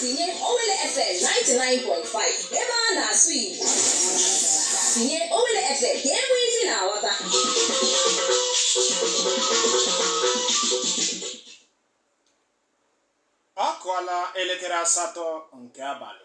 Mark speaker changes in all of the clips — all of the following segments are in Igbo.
Speaker 1: tinye Owele FM 99.5 ebe a na-asụ Igbo tinye Owele FM ka e nwee isi na-aghọta
Speaker 2: ọ kụọla elekere asatọ nke abalị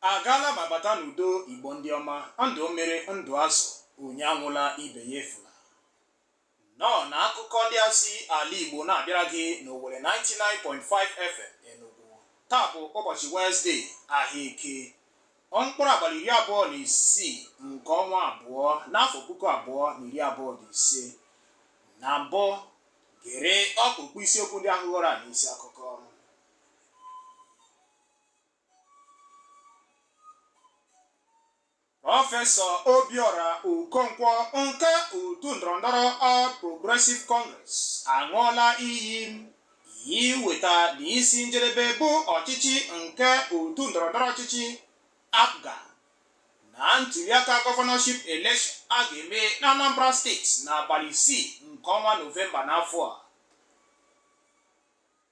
Speaker 2: agaala ma bata n'udo igbo ndị ọma ndụ mmiri ndụ azụ onye anwụla ibe ya efula nnọọ na akụkọ ndị a si ala igbo na-abịara gị n'owele 99.5 fm enugu taa bụ ụbọchị wenezdee ahịa eke mkpụrụ abalị iri abụọ na isii nke ọnwa abụọ n'afọ puku abụọ na iri abụọ na ise na mbụ gere ọkpụkpụ isiokwu ndị ahụ ghọrọ anyị isi akụkọ Prọfesọ Obiora Okonkwo nke otu ndọrọndọrọ All Progressive Congress aṅụọla iyi iweta n'isi njedebe bụ ọchịchị nke otu ndọrọndọrọ ọchịchị APGA na ntuliaka gọvanọship election a ga-eme na Anambra steeti n'abalị isii nke ọnwa Nọvemba n'afọ a.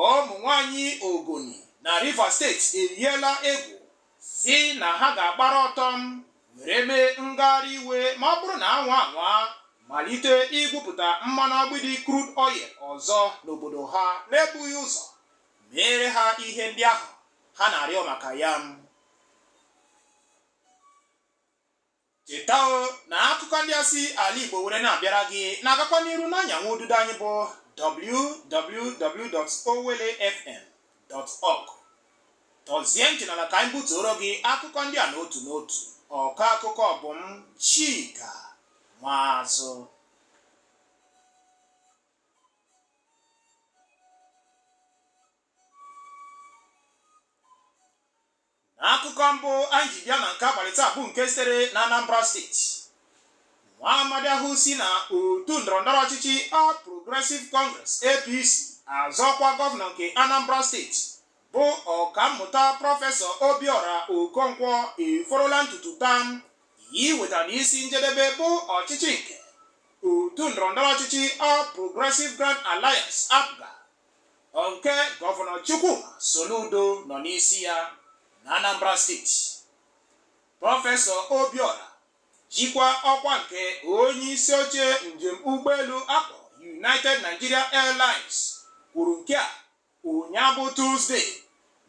Speaker 2: ụmụ nwanyị Ogoni na Rivers steeti eyiela egwu sị na ha ga-agbara ọtọ were mee ngagharị iwe ma ọ bụrụ na a nwaa anwa malite igwupụta mmanụ agbidi crude oil ọzọ n'obodo ha n'ebughị ụzọ meere ha ihe ndị ahụ ha na-arịọ maka ya cheta o na akụkọ ndị a si ala igbo were na-abịara gị na-agakwa n'iru n'anyanwụ ududo anyị bụ www.owelefm.org tọzie ntị n'ala ka anyị butuoro gị akụkọ ndị a n'otu n'otu ọkọ akụkọ bụ m chika nwazụ n'akụkọ mbụ anyị ji bịa na nke abalị taa bụ nke sitere na Anambra steeti nwa amadi ahụ si na otu ndọrọndọrọ ọchịchị All Progressive Congress APC azọ ọkwa gọvanọ nke Anambra steeti bụ ọkammụta prọfesọ Obiora Okonkwo eforola ntutu taa iweta n'isi njedebe bụ ọchịchị nke otu ndọrọndọrọ ọchịchị All Progressive Grand Alliance APGA nke gọvanọ Chukwuma Soludo nọ n'isi ya na Anambra steeti prọfesọ Obiora jikwa ọkwa nke onye isi oche njem ụgbọelu a kpọ United Nigeria Airlines kwuru nke a ụnyaa bụ Tuzdee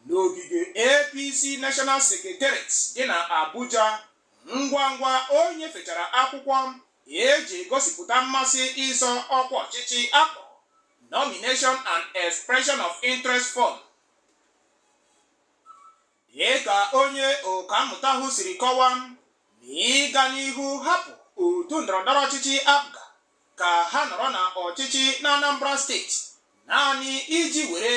Speaker 2: n'ogige APC National Secretariat dị na Abuja ngwa ngwa o nyefechara akwụkwọ Ihe eji egosipụta mmasị ịzọ ọkwa ọchịchị akpọ Nomination and Expression of Interest Form. Dị ka onye ọkammụta ahụ siri kọwaa, na ịga n'ihu hapụ otu ndọrọndọrọ ọchịchị APGA ka ha nọrọ na ọchịchị na Anambra steeti naanị iji were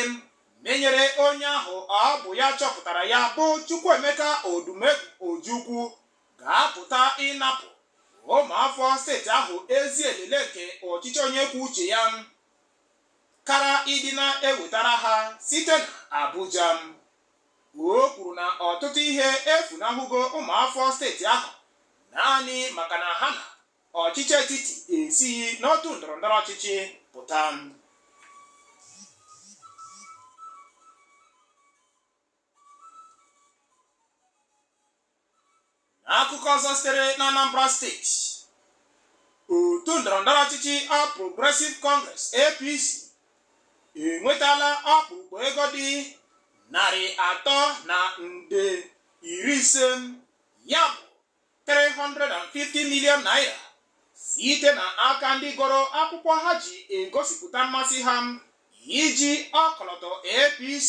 Speaker 2: menyere onye ahụ ọ bụ ya chọpụtara ya bụ Chukwuemeka Odumegwu Ojukwu ga-apụta ịnapụ ụmụafọ steeti ahụ ezi elele nke ọchịchị onye kwuo uche ya kaara ịdị na-ewetara ha site na Abuja o kwuru na ọtụtụ ihe efunahụgo ụmụafọ steeti ahụ naanị maka na ha na ọchịchị etiti esighị n'otu ndọrọndọrọ ọchịchị pụta n'akụkọ ọzọ sitere n'Anambra steeti otu ndọrọndọrọ ọchịchị All Progressive Congress APC enwetala ọkpụkpọ ego dị narị atọ na nde iri ise ya bụ 350 million naira site na aka ndị goro akwụkwọ ha ji egosipụta mmasị ha iji ọkọlọtọ APC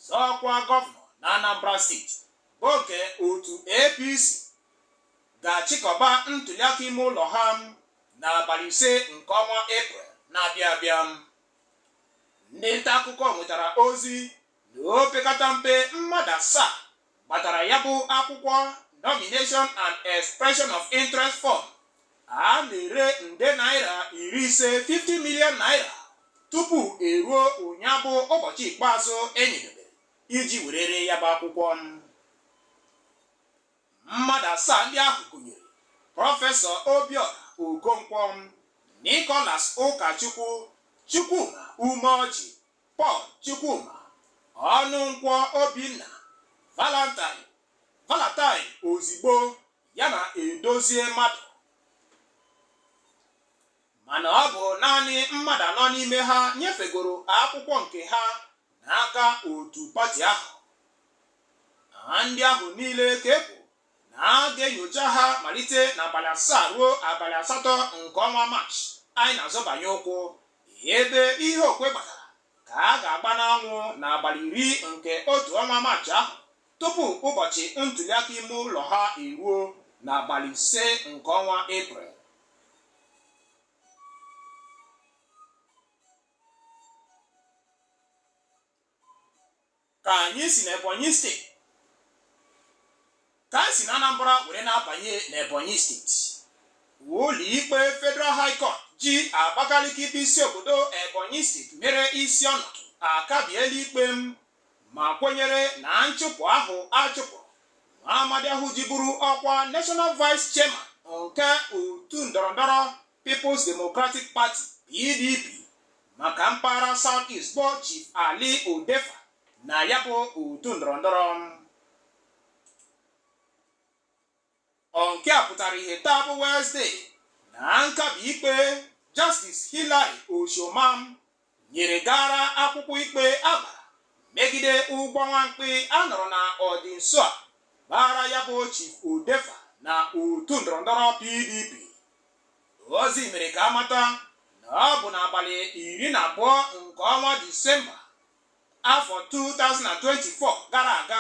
Speaker 2: zọọ ọkwa gọvanọ na Anambra steeti bụ nke otu APC ga-achịkọba ntuliaka ime ụlọ ha n'abalị ise nke ọnwa Eprel na-abịa abịa ndị nta akụkọ nwetara ozi na opekata mpe mmadụ asaa gbatara ya bụ akwụkwọ nomination and expression of interest form a na-ere nde naira iri ise 50 million naira tupu eruo ụnyaa bụ ụbọchị ikpeazụ enyedebere iji were ree ya bụ akwụkwọ mmadụ asaa ndị ahụ gụnyere prọfesọ obiọra okonkwo nicholas ụkachukwu chukwuma umeoji Paul Chukwuma Ọnụnkwọ Obinna Valentine Valentine Ozigbo ya na Edozie Madụ mana ọ bụ naanị mmadụ anọ n'ime ha nyefegoro akwụkwọ nke ha n'aka otu pati ahụ na ndị ahụ niile ka e kwuru na a ga-enyocha ha malite n'abalị asaa ruo abalị asatọ nke ọnwa Maachị anyị na-azọbanye ụkwụ ebe ihe okwe gbatara ka a ga-agba n'anwụ n'abalị iri nke otu ọnwa Maachị ahụ tupu ụbọchị ntuliaka ime ụlọ ha eruo n'abalị ise nke ọnwa Eprel ka anyị si n'Ebonyi steeti ka anyị si na Anambra were na-abanye n'Ebonyi steeti ụlọ ikpe Federal High Court ji Abakaliki bụ isi obodo Ebonyi steeti mere isi ọnọdụ akabiela ikpe m ma kwenyere na nchụpụ ahụ achụpụ nwa amadi ahụ jiburu ọkwa National Vice Chairman nke otu ndọrọndọrọ People's Democratic Party PDP maka mpaghara South East bụ Chief Ali Odefa na ya bụ otu ndọrọndọrọ nke a pụtara ihe taa bụ Wezdee na nkabi ikpe Justice Hilary Oshomah nyere gara akwụkwọ ikpe agbara megide ụgbọ nwamkpi a nọrọ na ọdị nso a gbara ya bụ Chief Odefa na otu ndọrọndọrọ PDP ozi mere ka amata na ọ bụ n'abalị iri na abụọ nke ọnwa Disemba afọ 2024 gara aga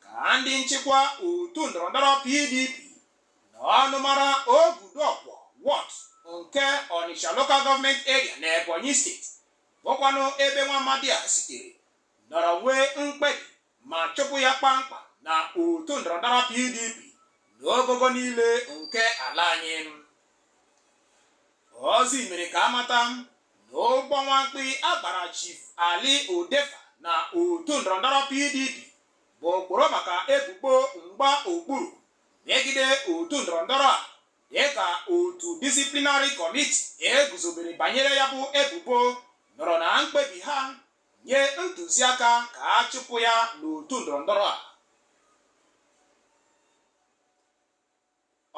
Speaker 2: ka ndị nchịkwa otu ndọrọndọrọ PDP n'ọnụmara Oguduokwor Ward nke Onicha Local Government Area na Ebonyi steeti bụkwanụ ebe nwa amadi a sitere nọrọ nwee mkpebi ma chụpụ ya kpamkpam na otu ndọrọndọrọ PDP n'ogogo niile nke ala anyị ozi mere ka amata na ụgbọ nwamkpi agbara Chief Ali Odefa na otu ndọrọndọrọ PDP bụ okporo maka ebubo mgba okpuru megide otu ndọrọndọrọ a dịka otu disiplinarị kọmiti eguzobere banyere ya bụ ebubo nọrọ na mkpebi ha nye ntụziaka ka a chụpụ ya n'otu ndọrọndọrọ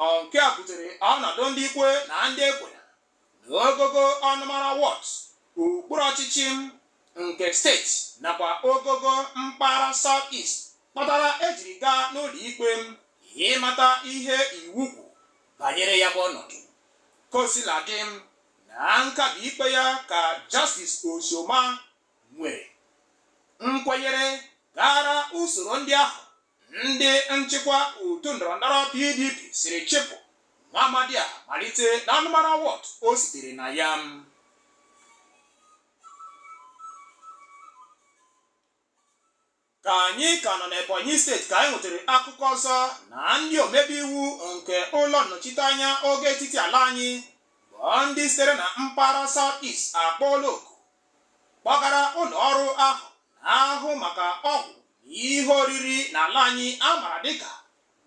Speaker 2: a nke a butere ọnọdụ ndị ikwe na ndị ekwena n'ogogo ọnụmara ward okpuru ọchịchị m nke steeti nakwa ogogo mpaghara South East kpatara ejiri gaa n'ụlọ ikpe m ịmata ihe iwu kwu banyere ya bụ ọnọdụ kosiladị m na nkabi ikpe ya ka Justice Oshomah nwere nkwenyere gara usoro ndị ahụ Ndị nchịkwa otu ndọrọndọrọ PDP siri chịpụ nwa amadi a malite na ọnụmara ward o sitere na ya. Ka anyị ka nọ n'Ebonyi steeti ka anyị nwetara akụkọ ọzọ na ndị omebe iwu nke ụlọ nnọchiteanya ogo etiti ala anyị bụ ndị sitere na mpaghara South East akpọọla oku kpọgara ụlọ ọrụ ahụ na-ahụ maka ọgwụ na ihe oriri n'ala anyị a mara dịka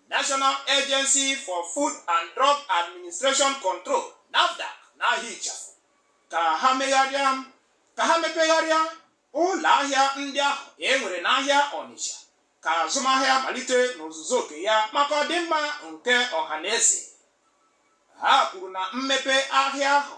Speaker 2: National Agency for Food and Drug Administration Control NAFDAC n'aha ịchafụ ka ha megharịa ka ha mepegharịa ụlọ ahịa ndị ahụ e nwere n'ahịa Ọnịcha ka azụmahịa malite n'ozuzu oke ya maka ọdịmma nke ọha na eze ha kwuru na mmepe ahịa ahụ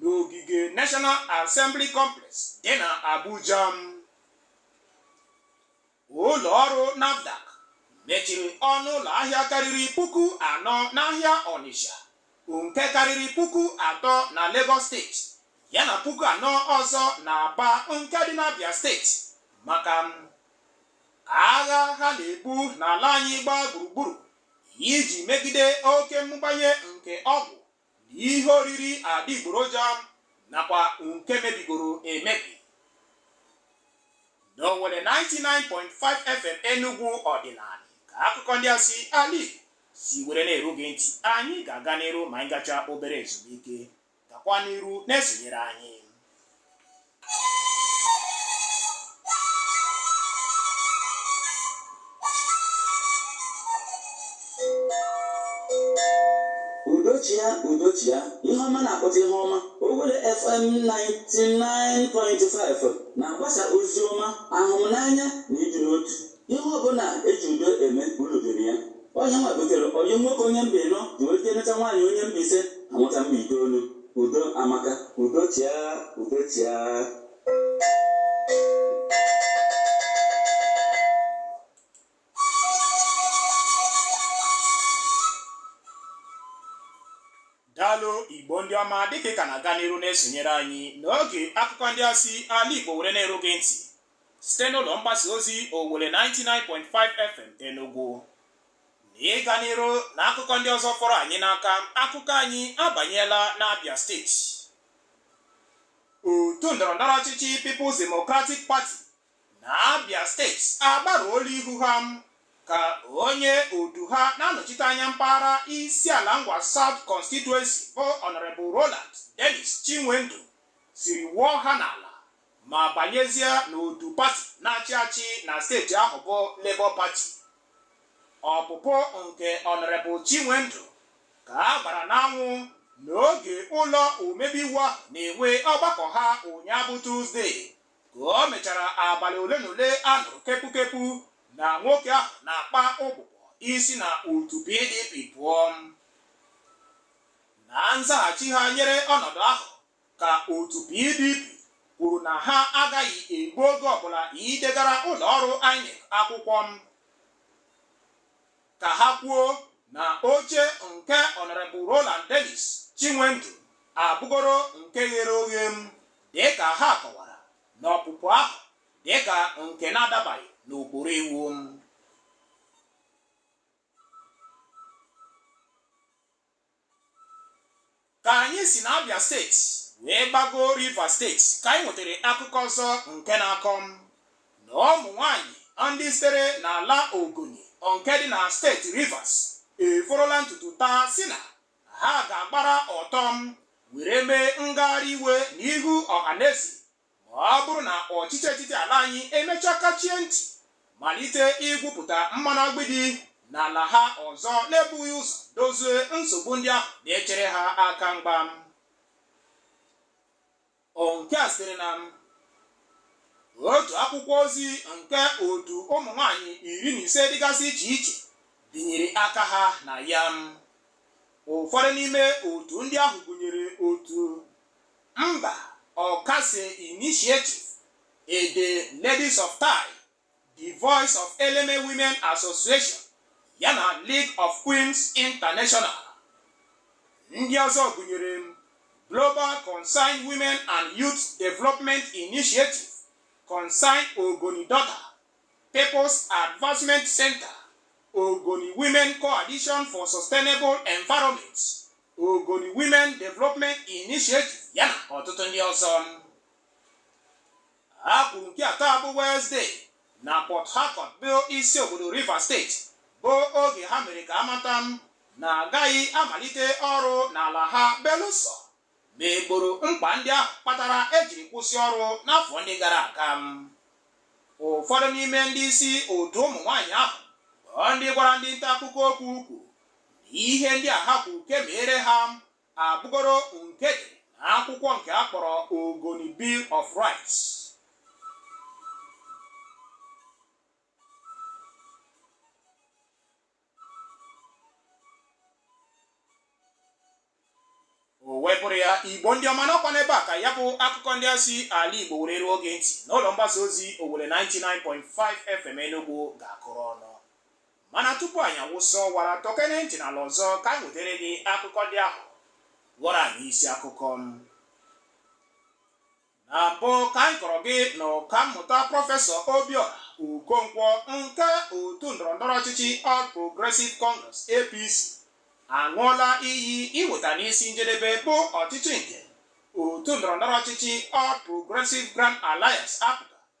Speaker 2: n'ogige National Assembly Complex dị na Abuja ụlọ ọrụ NAFDAC mechiri ọnụ ụlọ ahịa karịrị puku anọ n'ahịa Onitsha nke karịrị puku atọ na Lagos steeti yana puku anọ ọzọ na Aba nke dị n'Abia steeti maka agha ha na-ebu n'ala anyị gbaa gburugburu iji megide oke mmụbanye nke ọgwụ ihe oriri adịgboroja nakwa nke mebigoro emebi na Owelle 99.5 FM Enugu ọdịnala ka akụkọ ndị a si ala Igbo si were na-eru gị ntị anyị ga-aga n'iru ma anyị gacha obere ezumike gakwa n'iru na-esonyere anyị
Speaker 3: udo chịa udo chịa ihe ọma na-akpụta ihe ọma Owelle FM 99.5 na-agbasa ozi ọma ahụmnanya na ịdị n'otu Ihe ọbụla e ji udo eme ulu dịrị ya. Ọ nya nwa butere ọyị m nwoke onye mba ịnọ ji wee jee nụta nwaanyị onye mba ise ha mụta mba itoolu. Udo amaka. Udo chịa, udo chịa.
Speaker 2: daalụ igbo ndị ọma dịka ị ka na-aga n'iru na-esonyere anyị n'oge akụkọ ndị a si ala igbo were na-eru gị ntị site n'ụlọ mgbasa ozi Owelle 99.5 FM Enugu na ịga n'iru na akụkọ ndị ọzọ fọrọ anyị n'aka akụkọ anyị abanyela n'Abia steeti otu ndọrọndọrọ ọchịchị People's Democratic Party na Abia steeti agbaruola ihu ha ka onye otu ha na-anọchite anya mpaghara Isiala Ngwa South Constituency bụ Honorable Roland Dennis Chinwendu siri wụọ ha n'ala ma banyezie n'otu pati na-achị achị na steeti ahụ bụ Labour Party. Ọpụpụ nke Honorable Chinwendu ka a gbara n'anwụ n'oge ụlọ omebe iwu ahụ na-enwe ọgbakọ ha ụnyaahụ bụ Tuzdee ka o mechara abalị ole na ole a nụrụ kepukepu na nwoke ahụ na-akpa ụbụbọ isi na otu PDP pụọ. Na nzaghachi ha nyere ọnọdụ ahụ ka otu PDP kwuru na ha agaghị egbu oge ọbụla idegara ụlọ ọrụ INEC akwụkwọ ka ha kwuo na oche nke Honorable Roland Dennis Chinwendu abụgoro nke ghere oghe dịka ha kọwara na ọpụpụ ahụ dịka nke na-adabaghị n'okporo iwu Ka anyị si n'Abia steeti wee gbago Rivers steeti ka anyị nwetara akụkọ ọzọ nke na-akọ na ụmụ nwaanyị ndị sitere n'ala Ogoni nke dị na steeti Rivers eforola ntutu taa sị na ha ga-agbara ọtọ were mee ngagharị iwe n'ihu ọhaneze ma ọ bụrụ na ọchịchị etiti ala anyị emechaa kachie ntị malite igwupụta mmanụ agbidi n'ala ha ọzọ na-ebughị ụzọ dozie nsogbu ndị ahụ na-echere ha aka mgba nke a siri na otu akwụkwọ ozi nke otu ụmụ nwanyị iri na ise dịgasị iche iche binyere aka ha na ya ụfọdụ n'ime otu ndị ahụ gụnyere otu Mba Okase Initiative, Ede Ladies of Tai, The Voice of Eleme Women Association yana League of Queens International. Ndị ọzọ gụnyere Global Concerned Women and Youth Development Initiative, Concerned Ogoni Daughter, People's Advancement Center, Ogoni Women Coalition for Sustainable Environment, Ogoni Women Development Initiative yana ọtụtụ ndị ọzọ a kwuru nke a taa bụ Wednesday na Port Harcourt bụ isi obodo Rivers steeti bụ oge ha mere ka a mata na a gaghị amalite ọrụ n'ala ha belụsọ ma e gboro mkpa ndị ahụ kpatara ejiri kwụsị ọrụ n'afọ ndị gara aga ụfọdụ n'ime ndị isi otu ụmụ nwaanyị ahụ bụ ndị gwara ndị nta akụkọ okwu kwuru ihe ndị a ha kwuru ka e meere ha abụgoro nke dị na akwụkwọ nke a kpọrọ Ogoni Bill of Rights o wee bụrụ ya igbo ndị ọma na ọ kwa n'ebe a ka ya bụ akụkọ ndị a si ala igbo were ruo gị ntị n'ụlọ mgbasa ozi owelle 99.5 fm enugwu ga-akụrụ ọnụ mana tupu anyị awụsa ọwara tọkene ntị n'ala ọzọ ka anyị wetere gị akụkọ ndị ahụ ghọrọ anyị isi akụkọ na mbụ ka anyị kọrọ gị na ọkammụta prọfesọ Obiora Okonkwọ nke otu ndọrọndọrọ ọchịchị All Progressive Congress APC aṅụọla iyi iweta n'isi njedebe bụ ọchịchị nke otu ndọrọndọrọ ọchịchị All Progressive Grand Alliance APGA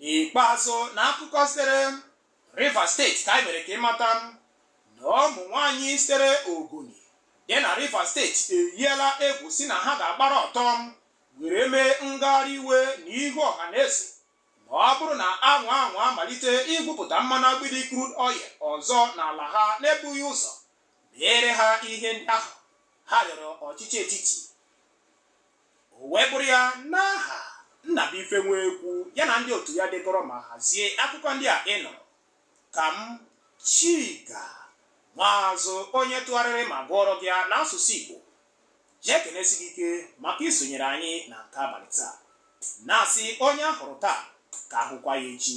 Speaker 2: n'ikpeazụ na akụkọ sitere Rivers steeti ka anyị mere ka ịmata na ụmụ nwaanyị sitere Ogoni dị na Rivers steeti eyiela egwu si na ha ga-agbara ọtọ were mee ngagharị iwe na ihu ọha na eze ma ọ bụrụ na a nwaa anwa malite igwupụta mmanụ agbidi crude oil ọzọ n'ala ha n'ebughị ụzọ meere ha ihe ndị ahụ ha rịọrọ ọchịchị etiti o wee bụrụ ya n'aha Nnabuife Nwekwu ya na ndị otu ya dekọrọ ma hazie akụkọ ndị a ị nụrụ ka m Chika Maazụ onye tụgharịrị ma gụọrọ gị ya n'asụsụ Igbo ji ekenesi gị ike maka isonyere anyị na nke abalị taa na-asị onye a hụrụ taa ka a hụkwa ya echi